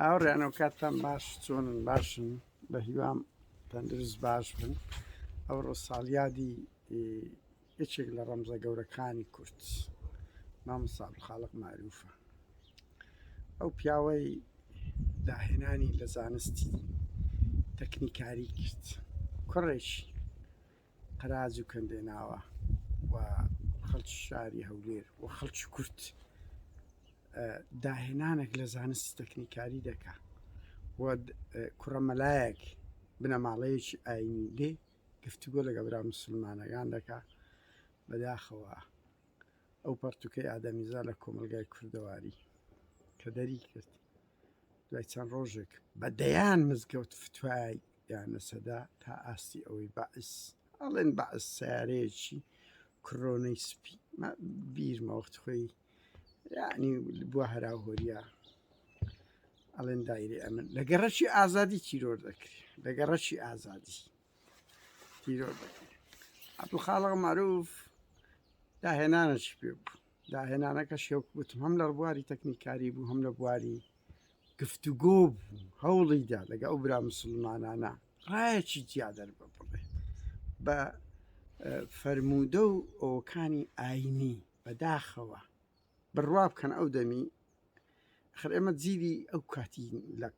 هاوڕێیانەوە کاتتان باش چۆن باشن بە هیوام تەندروست باش بن ئەوڕۆ ساڵیادی یەکێک لە ڕەمزە گەورەکانی کورت مامساڵ خاڵق معروفە ئەو پیاوەی داهێنانی لە زانستی تەکنیکاری کرد کوڕێکی قەراج و کەندێناوە و خەڵکی شاری هەولێر و خەڵکی کورد داهێنانێک لە زانستی تەکنیکاری دەکا و کوڕەمەلایەک بنەماڵەیەکی ئاینی لێ گفتوگۆ لەگە برا مسلمانەکان دەکا بەداخەوە ئەو پەرتوکەی ئادەمیزا لە کۆمەلگای کوردەواری کە دەری کرد دوای چەند ڕۆژێک بە دەیان مزگەوت فتوای دانەسەدا تا ئاستی ئەوەی بەعس ئەڵێن بەعس سەیارەیەکی کڕۆنەی سپی بیرمە وەخت خۆی یعنی بووە هەراهۆریا ئەڵێن دایری ئەمن لە گەڕەکی ئازادی تیرۆر دەکرێت لە گەڕەکی ئازادی تیرۆر دەکرێت عبدو خاڵق معروف داهێنانەشی پێ بوو داهێنانەکە شێوک وتم هەم لە بواری تەکنیکاری بوو هەم لە بواری گفتوگۆ بوو هەوڵیدا لەگە ئەو برا مسلمانانە ڕایەکی جیا دەربە بڵێ بە فەرموودە و ئەوکانی ئاینی بەداخەوە بڕوا بکەن ئەو دەمی خر ئێمە جیری ئەو کاتی لە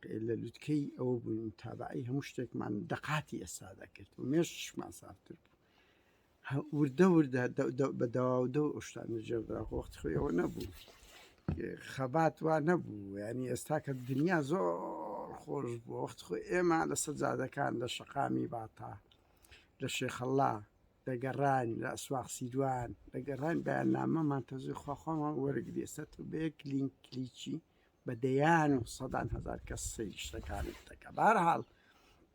لوتکەی ئەوە بووین تابعی هەموو شتێکمان دەقاتی ئێستا دەکرد و مێشمان سافتر بوو وردە وردە بە داوا دە شتان جێدرا وەخت خۆی ئەوە نەبوو خەبات وا نەبوو ینی ئێستا کە دنیا زۆر خۆش بوو وەخت خۆ ئێمە لە سەجادەکان لە شەقامی باتا لە شێخەڵا دەگەڕان لە ئەسواق سیدوان دەگەڕان بەیان نامەمان تەزوی خواخوامان وەرگری ئێستا تۆ بە یەک لینک کلیکی بە دەیان و سەدان هزار کەس سەیری شتەکانت دەکە بارحاڵ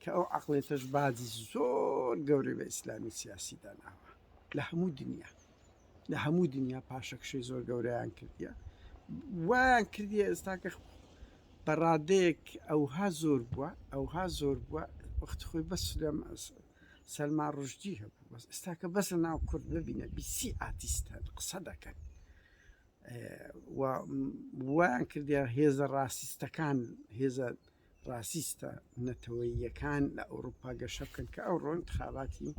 کە ئەو عەقڵیەتەش باجی زۆر گەورەی بە ئیسلامی سیاسی داناوە لە هەموو دنیا لە هەموو دنیا پاشەکشەی زۆر گەورەیان کردیە وایان کردیە ئێستا کە بەڕادەیەک ئەوها زۆر بووە ئەوها زۆر بووە وەخت خۆی بەس لەم سەلما ڕژدی هەبوو بەس ئێستاکە بەس لە ناو کورد ببینە بیسی ئاتیستان قسە دەکەن وایان کردیان هێزە ڕاستیستەکان هێزە ڕاسیستە نەتەوەییەکان لە ئەوروپا گەشە بکەن کە ئەوڕۆ انتخاباتی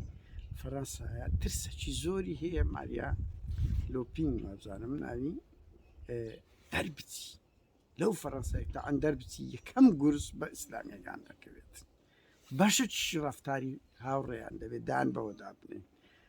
فەرەنسایە ترسەکی زۆری هەیە ماریا لۆپین وابزانم ناوی دەربچی لەو فەرەنسای تا ئەندەر بچی یەکەم گورس بە ئیسلامیەکان دەکەوێت بەشە چی ڕفتاری هاوڕێیان دەبێت دان بەوەدا بنێن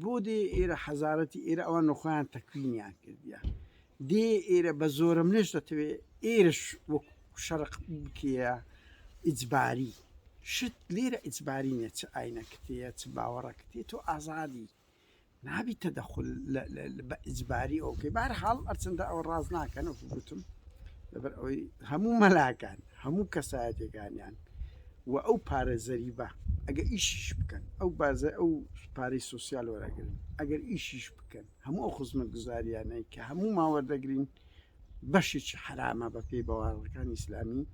بو دێ ئێرە حەزارەتی ئێرە ئەوان نوخۆیان تەکوینیان کردیە دێ ئێرە بە زۆرەملێش دەتەوێ ئێرەش وەک شەرق بکرێە ئیجباری شت لێرە ئیجباری نیە چ ئاینەکتەیە چ باوەڕەکتی تۆ ئازادی نابی تەدەخل بە ئیجباری ئەوکەی بار حاڵ ئەرچنددە ئەوە ڕاز ناکەن وەکو گوتم لەبەر ئەوەی هەموو مەلاکان هەموو کەسایەتەکانیان و ئەو پارە زەریبە ئەگە ئیشیش بکەن ئەو بازە ئەو پارەی سوسیال وەراگرن ئەگەر ئیشیش بکەن هەموو ئەو خزمە گوزاریانەی کە هەموو ماوە دەگرین بەشێکی حرامە بە پێی بەواڕەکان ئیسلامی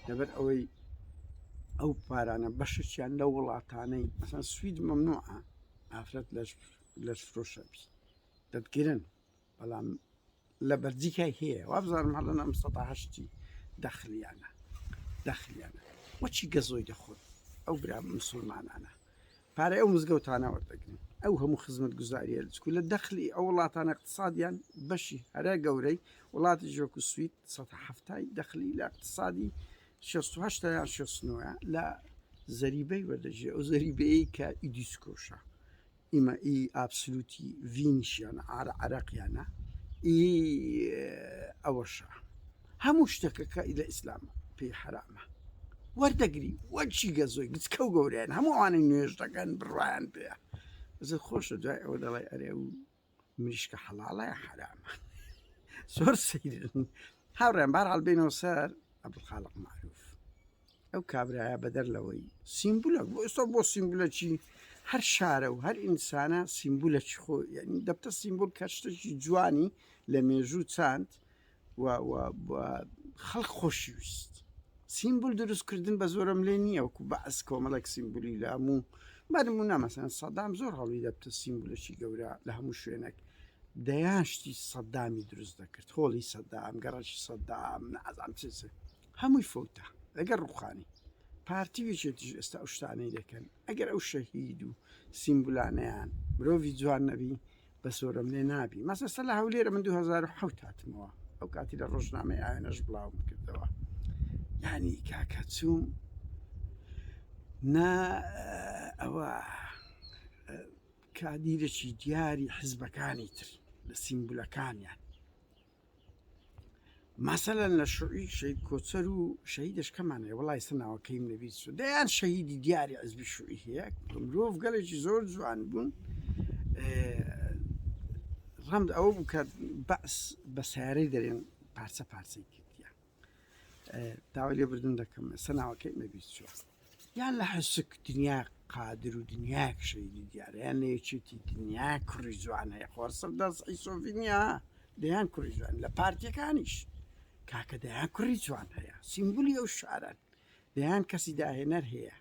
لەبەر ئەوەی ئەو پارانە بەشەچیان لە وڵاتانەی ئەسان سوید مەمنوعە ئافرەت لە فرۆشەبی دەتگرن بەڵام لە بەلجیکای هەیە وابزانم هەڵەن ئەم سەدا هەشتی دەخلیانە دەخلیانە وەچی گەزۆی دەخۆن ئەو برا مسلمانانە پارەی ئەو مزگەوتانە وەردەگرن ئەو هەموو خزمەت گوزاریە لەچکو لە دەخلی ئەو وڵاتانە اقتصادیان بەشی هەرە گەورەی وڵاتی ژۆکو سوید سەدا هەفتای دەخلی لە اقتصادی 16 یان 16 لە زەریبەی وەردەژێ ئەو زەریبەیە کە ئیدیسکۆشە ئیمە ئی ئابسلوتی ڤینیشیانە عارە عەراقیانە ئی ئەوەشە هەموو شتەکە کە ئی لە ئیسلام پێی حەرامە وەردەگری وە چی گەزۆی گچکە و گەوریان هەموو ئەوانەی نوێژ دەکەن بڕوایان پێە زە خۆشە دوای ئەوە دەڵێ ئەرێ و مریشکە حەڵاڵە یا حەرامە زۆر سەیرن هاوڕێن بارحاڵ بینەوە سەر عەبدولخالق معروف ئەو کابرایە بەدەر لەوەی سیمبولە بۆ ئێستا بۆ سیمبولەکی هەر شارە و هەر ئینسانە سیمبولەکی خۆ یعنی دەبتە سیمبول کە شتێکی جوانی لە مێژوو چاند خەڵک خۆشیویست سیمبول دروستکردن بە زۆرم لێ نییە وکو بەعس کۆمەڵک سیمبولی لە هەموو بەرمو نامەسەن سەدام زۆر هەڵی دەبتە سیمبولەکی گەورە لە هەموو شوێنێک دەیان شتی سەدامی دروست دەکرد هۆڵی سەدام گەڕەکی سەدام نازان چ هەمووی فەوتە لەگەر ڕوخانی پارتی و یەکێتیش ئێستا ئەو شتانەی دەکەن ئەگەر ئەو شەهید و سیمبولانەیان مرۆڤی جوان نەبی بەسۆرەم لێ نابی مەسەسە لە هەولێرە من 2007 هاتمەوە ئەو کاتی لە ڕۆژنامەی ئاوێنەش بڵاوم کردەوە یعنی کاکە چوم نا ئەوە کادیرەکی دیاری حزبەکانی تر لە سیمبولەکانیان مەسەلەن لە شوعی شەید کۆچەر و شەهیدش کەمان هەیە وڵی سە ناوەکەیم نەویست و دەیان شەهیدی دیاری عزبی شوعی هەیە مرۆڤ گەلێکی زۆر جوان بوون ڕەند ئەوە بوو کە بەس بە سیارەی دەرێن پارچە پارچەی کردیان داوای لێ بردن دەکەم ئێستا ناوەکەی نەبیت چۆ یان لە حسک دنیا قادر و دنیا شەیدی دیارەیان نێچێتی دنیا کوڕی جوان هەیە خۆسم دەست ئیسۆڤینیا دەیان کوڕی جوان لە پارتیەکانیش کاکە دەیان کوڕی جوان هەیە سیمبولی ئەو شارەن دەیان کەسی داهێنەر هەیە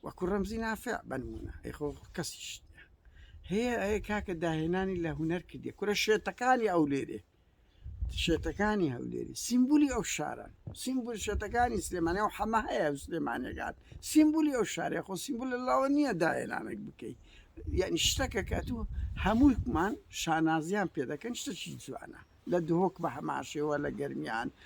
وەکو ڕەمزی نافع بنمونە ئەیخۆ کەسیش هەیە ئەیە کاکە داهێنانی لە هوەر کردی کورە شێتەکانی ئەو لێرێ شێتەکانی هەولێری سیمبولی ئەو شارە سیمبول شێتەکانی سلێمانی و حەمە هەیە سلێمانەکان سیمبولی ئەو شارێ خۆ سیمبول لە لاوە نییە داهێنانێک بکەی یعنی شتەکە کە تو هەمووکمان شانازیان پێ دەکەن شتەکی جوانە لە دهۆک بە هەماشەوە لە گەرمیان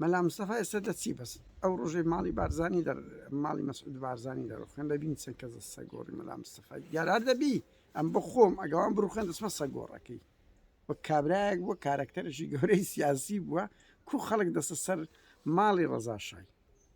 مەلا مستەفا ئێستا دەچی بەس ئەو ڕۆژەی ماڵی بارزانی دەر ماڵی مەسعود بارزانی دەڕوخێن دەبین چەند کەس دەستە گۆڕی مەلا مستەفا دیارار دەبی ئەم بخۆم ئەگەوان بڕوخێن دەسمە سە گۆڕەکەی و کابراەک بووە کارەکتەرشی گەورەی سیاسی بووە کو خەڵک دەسە سەر ماڵی ڕەزاشای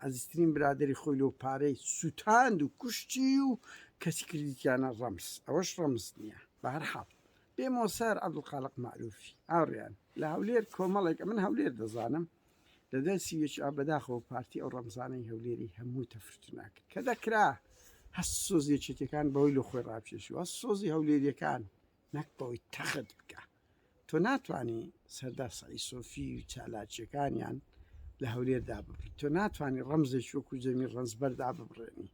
ئازیزترین برادەری خۆی لۆ پارەی سوتاند و کوشتی و کەچی کردیتیانە ڕەمز ئەوەش ڕەمز نیە بەهەرحاڵ بێ مۆسار عەبدولخالق مەعروفی ئاوریان لە هەولێر کۆمەڵێک ئەمن هەولێر دەزانم لە دەرسی یەکئا بەداخەوە پارتی ئەو ڕەمزانەی هەولێری هەموو تەفرت ناکرد کە دەکرا هەست سۆزی یەکێتیەکان بەوەی لۆ خۆی ڕاکێشوە سۆزی هەولێریەکان نەک بەوەی تەخت بکا تۆ ناتوانی سەردار سەعید سۆفی و چالاکیەکانیان لە هەولێر داببڕی تۆ ناتوانانی ڕەمزێکی وەکو جەمی ڕەنجبەر داببڕێنی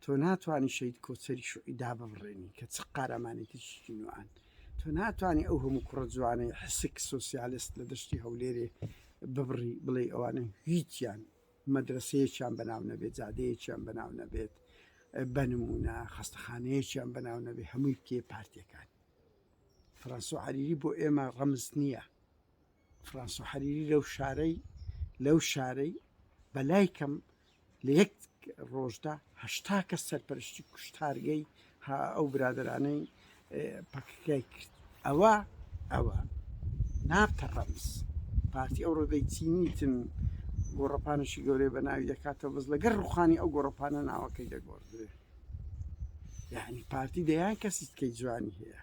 تۆ ناتوانانی شەید کۆچەری شوعی داببڕێنی کە چ قارەمانێتیشی نوان تۆ ناتوانانی ئەو هەموو کوڕە جوانەی حسک سوسیالست لە دەشتی هەولێرێ ببڕی بڵێ ئەوانە هیچیان مەدرەسەیەکیان بەناو نەبێت، جادەیەکیان بەناو نەبێت، بە نموونە خەستەخانەیەکیان بەناو نەبێت، هەمووی کێ؟ پارتییەکان. فرانسۆ حەریری بۆ ئێمە ڕەمز نییە. فرانسۆ حەریری لەو شارەی لەو شارەی بەلای کەم لە یەک ڕۆژدا هەشتا کەس سەرپەرشتی کوشتارگەی ها ئەو برادەرانەی پەکەکەی کرد ئەوە ئەوە نابتە ڕەمز پارتی ئەو ڕۆدەی چینیتن گۆڕەپانشی گەورەی بە ناوی دەکاتە بز لەگەر ڕوخانی ئەو گۆڕەپانە ناوەکەی دەگۆڕدرێ یعنی پارتی دەیان کەسیتکەی جوانی هەیە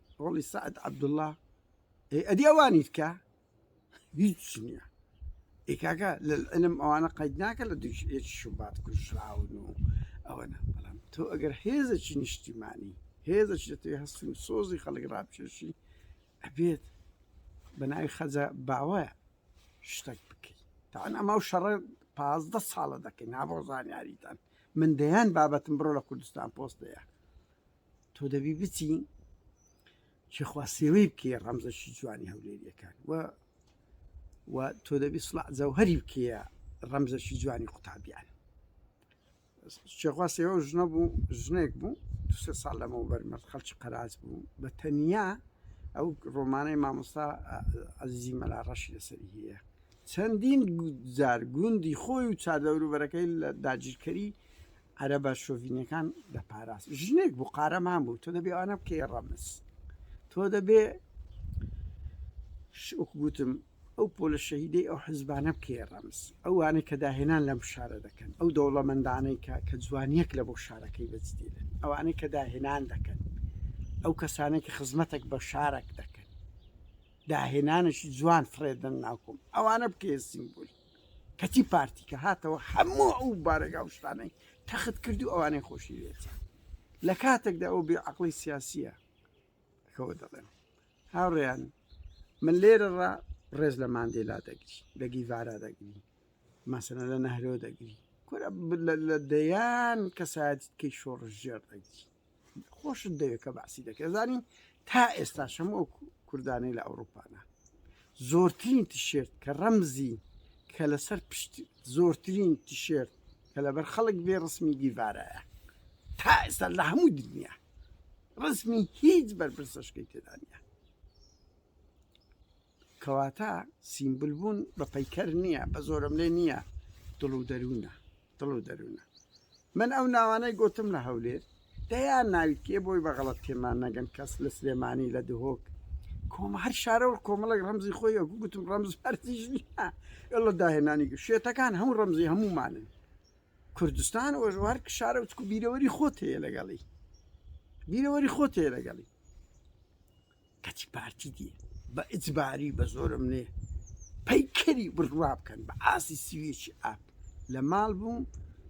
ڕۆڵی سەعد عەبدوڵڵا ئەی ئەدی ئەوانیت کە هیچ نییە ئەی کاکە لە علم ئەوانە قەید ناکە لە دوش هێچ شوبات کوژراون و ئەوەنە بەڵام تۆ ئەگەر هێزەکی نیشتیمانی هێزەش دەتوێت هەستی و سۆزی خەڵک ڕابکێشی ئەبێت بە ناوی خەجە باوە شتێک بکەیت تاان ئەما و شەڕە پازدە ساڵە دەکەین نابۆ زانیاریتان من دەیان بابەتم بڕۆ لە کوردستان پۆستەیە تۆ دەبی بچی چخوا سێوەی بکەی ڕەمزەشی جوانی هەولێریەکان و و تۆ دەبی سڵ جەوهری بکەیە ڕەمزەشی جوانی قوتابیان چێخوا سێوە ژنە بوو ژنێک بوو دو سێ ساڵ لەمەوە بەرمەرد خەڵکی قەراج بوو بە تەنیا ئەو ڕۆمانەی مامۆستا ئەزیزی مەلا ڕەشی لەسەری هەیە چەندین جار گوندی خۆی و چادەوروبەرەکەی لە داگیرکەری عەرەبە شۆڤینەکان دەپاراست ژنێک بوو قارەمان بوو تۆ دەبێ ئەوانە بکەی ڕەمز تۆ دەبێ شوک گوتم ئەو پۆلە شەهیدەی ئەو حزبانە بکەی ڕەمز ئەوانە کە داهێنان لەم شارە دەکەن ئەو دەوڵەمەندانەی کە کە جوانیەک لە بۆ شارەکەی بەجدێنن ئەوانەی کە داهێنان دەکەن ئەو کەسانێک کە خزمەتێک بە شارەک دەکەن داهێنانشی جوان فڕێدن ناکۆم ئەوانە بکەێ سیمبولی کەچی پارتی کە هاتەوە هەموو ئەو بارەگا و شتانەی تەخت کرد و ئەوانەی خۆشی لێتیان لە کاتێکدا ئەو بێ عقلی سیاسیە کەەوە دەڵێن هاوڕێیان من لێرە ڕا ڕێز لە ماندێلا دەگری لە گیڤارا دەگری مەسەنە لە نەهرۆ دەگری کورە لە دەیان کەسایەتی کەی شۆڕژێر دەگری خۆشت دەوێت کە باسی دەکرێت زانین تا ئێستا شەمە و کوردانەی لە ئەوروپانا زۆرترین تیشێرت کە ڕەمزی کە لەسەر پشت زۆرترین تیشێرت کە لەبەر خەڵک بێ ڕسمی گیڤارایە تا ئێستا لە هەموو دنیا ڕسمی هیچ بەرپرسەشکەی تێدانە کەواتە سیمبل بوون بە پەیکەر نییە بە زۆرم لێ نییە دڵ و دەروونە دڵ و دەروونە من ئەو ناوانەی گوتم لە هەولێر دەیان ناوی کێ بۆی بەغڵەت تێمان نەگەن کەس لە سلێمانی لە دهۆک کۆمە هەر شارەوە کۆمەڵێک ڕەمزی خۆی ئەو گوتم ڕەمز هەرتیژ نیە لە داهێنانی شێتەکان هەموو ڕەمزی هەمومانن کوردستان وەژوار شارە وچکو بیرەوەری خۆت هەیە لەگەڵی بیرەوەری خۆت هەیە لەگەڵی کەچی پارتی دی بە ئیجباری بە زۆرەملێ پەیکەری بورژوا بکەن بە ئاستی سویچی ئاپ لە ماڵ بووم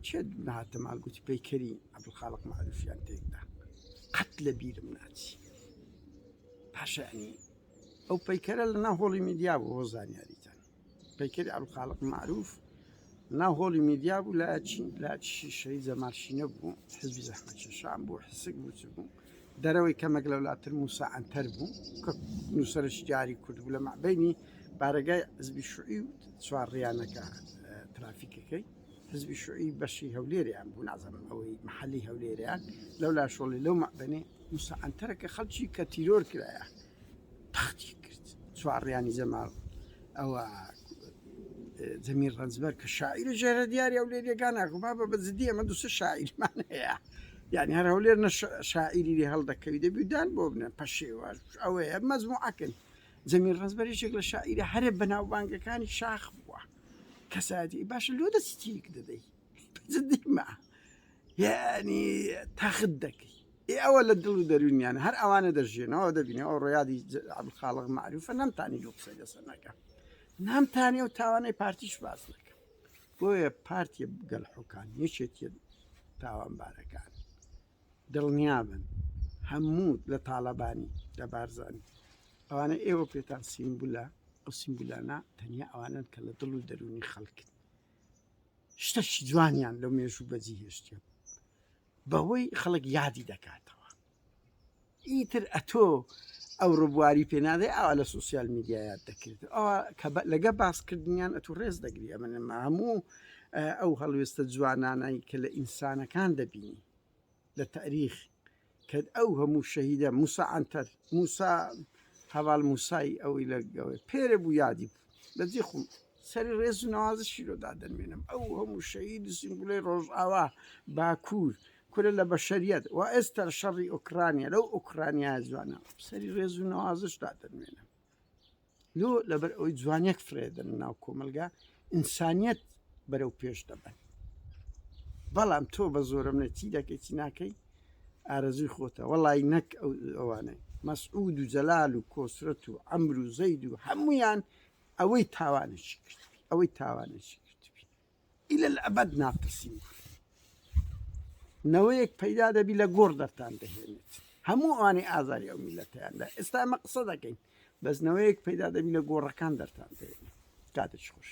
چێ دوونەهاتە ماڵ گوتی پەیکەری عەبدولخاڵق مەعروفیان تێکدا قەت لە بیرم ناچی پاشانی ئەو پەیکەرە لە ناو هۆڵی میدیا بوو بۆ زانیاریتان پەیکەری عەبدولخالق مەعروف ناو هۆڵی میدیا بوو لە چین لە شیشەی جەماشینە بوو حزبی زەحمەکێشان بوو حسک بوو چ بوو دەرەوەی کەمێک لەولاتر موسا ئەنتەر بوو کە نووسرە شیاری کورد بوو لە مەعبینی بارەگای حزبی شوعی و چوار ڕیانەکە ترافیکەکەی حزبی شوعی بەشی هەولێریان بوو نازانم ئەوەی محلی هەولێریان لەولا شۆڵی لەو مەعبنی موسا ئەنتەرەکە خەڵکی کە تیرۆر کرایە تەختیک کرد چوارڕیانی جەمال ئەوە جەمیل ڕەنجبەر کە شاعیری ژێرە دیاری ئەو لێریەکان ناکو با بە بەجددی ئەمە دوسە شاعیرمان هەیە یعنی هەر هەولێر نە شاعیری لێ هەڵدەکەوی دەبیدان بۆ بنە پەشێوە ئەوەیە مەزموعەکن جەمیل ڕزبەرێکێک لە شاعیرە هەرە بەناوبانگەکانی شاخ بووە کەساتی باشە لۆ دەستی تیک دەدەی جدیمە یعنی تاخت دەکەی ئێ ئەوە لە دڵ و دەروونیان هەر ئەوانە دەژێنەوە دەبینێ ئەو ڕۆیادی عبدالخالق معروفە نەمتانی لۆ قسە لەسەر نەکە نامتانی و تاوانەی پارتیش باس نەکە بۆیە پارتی گەل حکان یەکێتی تاوانبارەکان دڵنیابن هەموو لە تاالبانی لە بارزانانی ئەوانە ئێوە پێتان سیمبولە ئەو سیمبولانە تەنیا ئەوانن کە لە دڵ و دەرونی خەڵکن شتەکی جوانیان لەو مێژوو بەجی هێشتیان بەوەی خەڵک یادی دەکاتەوە ئیتر ئەتۆ ئەو ڕبواری پێنادەی ئاوا لە سوسیال میدیایات دەکرێت ئەوە کە لەگە باسکردنیان ئەتو ڕێز دەگری ئەمە نەما هەموو ئەو هەڵوێستە جوانانایی کە لە ئینسانەکان دەبینی لە تاریخ کە ئەو هەموو شەهیدە موسا ئەتەر موسا هەواڵ موسای ئەوی لە گەوەی پێرە بوو یادی بوو لە جێ خۆم سەری ڕێز و نوازشی لۆ دادەنوێنم ئەو هەموو شەهید و سیمبولەی ڕۆژئاوا باکوور کورە لە بەشەریەت و ئێستا شەڕی ئۆکرانیا لەو ئۆکرانیا جوانە سەری ڕێز و نوازش دادەنوێنم لۆ لەبەر ئەوی جوانیەک فرێدن ناو کۆمەلگا ئینسانیت بەرەو پێش دەبن بەڵام تۆ بە زۆرم نەچی دەکەی چی ناکەیت ئارەزووی خۆتە وەڵای نەک ئەو ئەوانەی مەسعود و جەلال و کۆسرەت و ئەمر و زەید و هەمویان ئەوەی تاوانێکی کرد ئەوەی تاوانێکی کرد ئیلە ئەبەد ناقسیم نەوەیەک پەیدا دەبی لە گۆڕ دەرتان دەهێنێت هەموو ئەوانەی ئازاری ئەو میلەتیاندا ئێستا ئەمە قسە دەکەین بەس نەوەیەک پەیدا دەبی لە گۆڕەکان دەرتان دەێنێت کاتێک خوش